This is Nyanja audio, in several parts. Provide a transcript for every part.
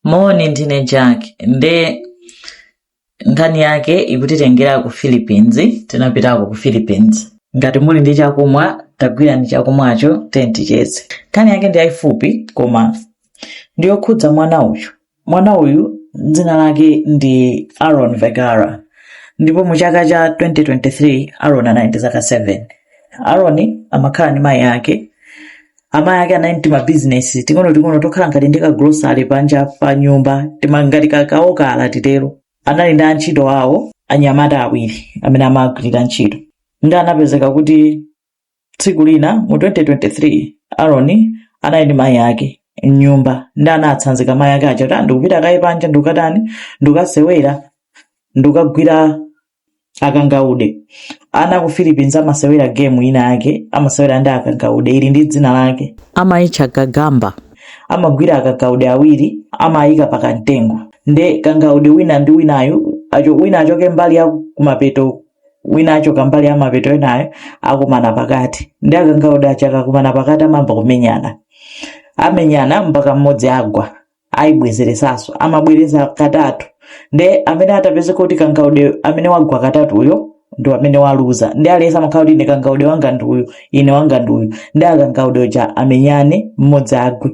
moni ndine jack nde nkhani yake ikutitengera ku philippines tinapitako ku philippines ngati muli ndi chakumwa tagwirani chakumwacho then ticheze nkhani yake ndi yaifupi koma ndi yokhudza mwana uyu mwana uyu dzina lake ndi aaron vegara ndipo mu chaka cha 2023 aaron anali ndi zaka 7 aaron amakhala ndi mayi ake amayi ake anali ndi mabizinesi ting'onoting'ono tokhala ngati ndi kagulosale panja pa nyumba ngati kakaokala titero anali ndi antchito awo anyamata awiri amene amagwirira ntchito nde anapezeka kuti tsiku lina mu 2023 aroni anali ndi mayi ake mnyumba nde anatsanzika mayi ake aja kuti "Ah, ndikupita kaye panja ndikukatani ndikukasewera ndikukagwira akangaude ana ku philippines amasewera game ina yake amasewera ndi akangaude ili ndi dzina lake amaitcha gagamba amagwira akangaude awiri amayika pa kamtengo nde kangaude wina ndi winayu achoke wina achoke mbali ya kumapeto wina achoka mbali ya mapeto inayo akumana pakati nde akangaude aja akakumana pakati amayamba kumenyana amenyana mpaka mmodzi agwa ayibwezeresanso amabwereza katatu nde amene atapeze kuti kangaude amene wagwa katatuyo ndi amene waluza nde aliyense amakhala kuti ine kangaude wanga ndi uyu ine wanga ndi uyu nde akangaude aja amenyane mmodzi agwe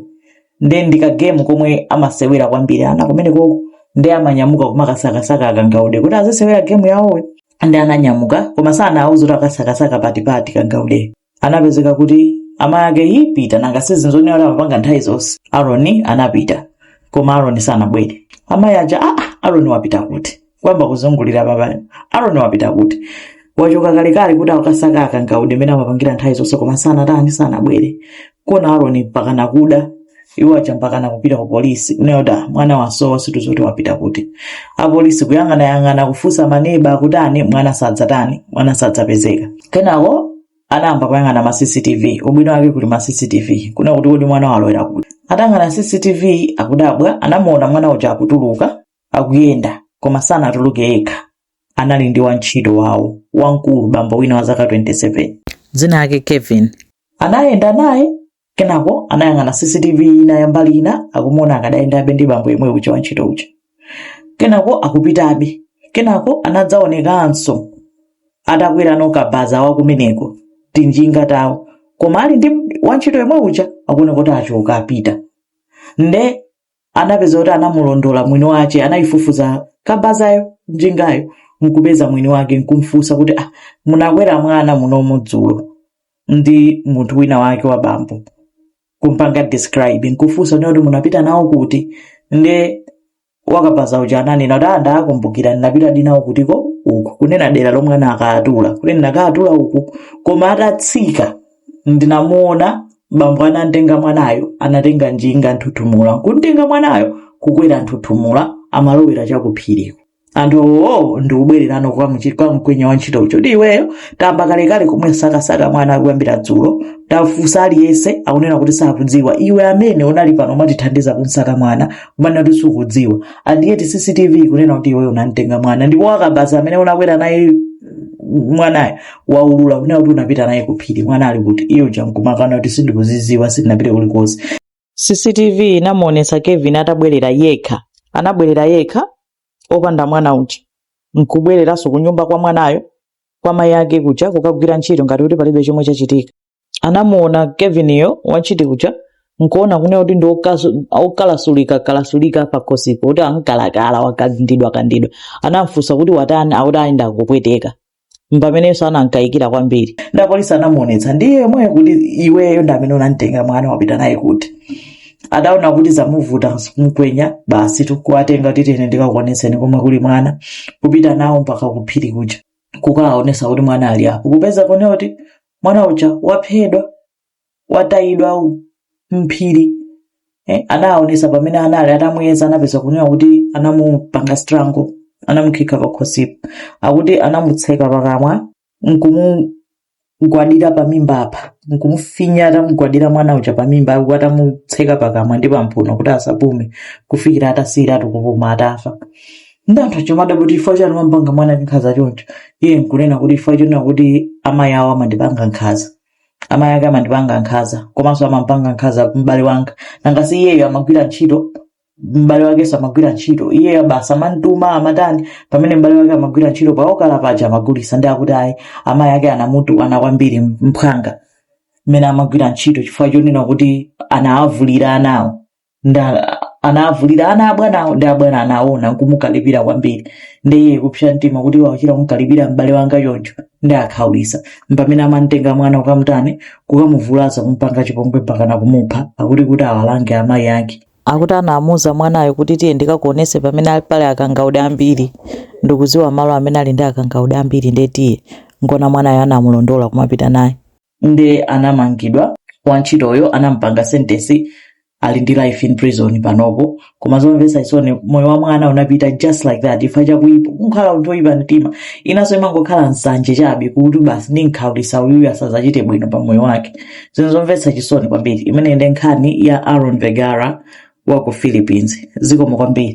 nde ndi kagemu komwe amasewera kwambiri ana kumeneko nde amanyamuka kumakasakasaka akangaude kuti azisewera gemu yawoyo nde ananyamuka koma sanawuza kuti akasakasaka pati pati kangaude anapezeka kuti amayi ake aa pita nanga si ndi zonena kuti amapanga nthawi zonse aroni anapita koma aroni sanabwere amayi aja aa aroni wapita kuti kuyamba kuzungulira papaja aroni wapita kuti wachoka kalekale kuti akasaka akangaude mmene amapangira nthawi zonse koma sanatani sanabwere kuona aroni mpaka nakuda iwo aja mpaka nakupita ku polisi unayoda mwana wasowa sitikudziwa kuti wapita kuti apolisi kuyang'anayang'ana kufunsa maneba kuti ani mwana sadzatani mwana sadzapezeka kenako anayamba kuyang'ana ma cctv ubwino wake kuli ma cctv kuona kuti kodi mwana walowera kuti atayang'ana cctv akudabwa anamuona mwana uja akutuluka akuyenda koma sanatuluke yekha anali ndi wantchito wawo wamkulu bambo wina wa zaka 27 dzina lake kevin anayenda naye kenako anayang'ana cctv ina ya mbali ina akumuona akadayendabe ndi bambo yemwe uja wantchito uja kenako akupitabe kenako anadzaonekanso atakwera kabaza wakumeneko tinjinga tawo koma ali ndi wantchito yemwe uja akuoneka kuti achoka apita nde anapeza kuti anamulondola mwini wace anayifufuza kabazayo njingayo nkupeza mwini wake nkumfunsa kuti ah, munakwera mwana munomu dzulo ndi munthu wina wake wa bambo kumpanga describe nkufunsa kuti munapita nawo kuti nde wakabaza uja ananena kuti ndakumbukira ndinapita nawo kutiko uku kunena dera lomwe anakatula kuti ndinakatula uku koma atatsika ndinamuona bambo anamtenga mwanayo anatenga njinga nthuthumula nkumtenga mwanayo kukwera nthuthumula amalowera chakuphiriko anthuwo nkubwereranso kwa mchi- kwa mkwenya wantchito uja ndi iweyo tayamba kalekale kumusakasaka mwana kuyambira dzulo tafunsa aliyense akunena kuti sakudziwa iwe amene unali pano umatithandiza kumsaka mwana kumanena kuti sukudziwa ndiyetu cctv ikunena kuti iweyo unamtenga mwana ndipo wakabaza amene unakwera naye mwanayo waulula kunena kuti unapita naye ku phiri mwana ali kuti iye uja nkumakana kuti sindikuziziwa sindinapite kulikonse cctv inamuonesa kevin atabwerera yekha anabwerera yekha opanda mwana uja nkubwereranso kunyumba kwa mwanayo kwa mayi ake kuja kukagwira ntchito ngati kuti palibe chomwe chachitika anamuona kevin-yo wantchito uja nkuona kunena kuti ndi okasu- okalasulika kalasulika pakhosipo kuti angokhala wakandidwa kandidwa anamfunsa kuti watani akuti ayi ndikupweteka mpamenenso anamkayikira kwambiri ndi apolisi anamuonetsa ndiye yemweyo kuti iweyo ndi amene unamtenga mwana wapita naye kuti adaona kuti zamuvuta mkwenya basi nkuwatenga tiyeni ndikakuonetseni komwe kuli mwana kupita nawo mpaka kuphiri kuja kukaonesa kuti mwana ali apo kupeza kunena kuti mwana uja waphedwa watayidwa m'phiri eh, anaonesa pamene anali atamuyeza anapeza kunena kuti anamupanga strango anamukhikha pakhosipo akuti anamutseka pakamwa nkumugwadira pamimba apa nkumufinya atamugwadira mwana uja pamimba apo atamutseka pakamwa ndi pampuno kuti asapume kufikira atasiyiratu kupuma atafa ndiye anthu akumati kuti chifukwa chani wamupanga mwanayu nkhaza choncho iye nkunena kuti chifukwa chonena kuti amayi awo amandipanga nkhaza amayi ake amandipanga nkhaza komanso amampanga nkhaza m'bale wanga nanga si iyeyo amagwira ntchito m'bale wakenso amagwira ntchito iyeyo basi amantuma amatani pamene m'bale wake amagwira ntchito pa okala paja amagulisa ndiye akuti ayi amayi ake anamutukwana kwambiri mphwanga mmene amagwira ntchito chifukwa chonena kuti anawavulira ana awo ndiye anavulira ana abwanawo ndiye abwana anaona nkumukalipira kwambiri ndiye kupsa mtima kuti wachita kumkalipira m'bale wanga choncho ndiwakhaulisa mpamene amamtenga mwana kukamtani kukamuvulaza kumpanga chipongwe mpaka na kumupha akuti kuti awalange amayi ake akuti anamuuza mwanayo kuti tiye ndikakuonese pamene ali pali akangaude ambiri ndikuziwa malo amene ali ndi akangaude ambiri ndiye tiye ukaone mwanayo anamulondola kumapita naye nde anamangidwa wantchitoyo anampanga sentence ali ndi life in prison panopo koma zomvetsa chisoni moyo wa mwana unapita just like that ifa chakuipa kunkhala munthu oyipa mtima inanso imangokhala nsanje chabe kuti basi ndinkhaulisa uyuyu asazachite bwino pa moyo wake zinthu zomvetsa chisoni kwambiri imeneyi ndi nkhani ya aaron vegara wa ku philippines zikomo kwambiri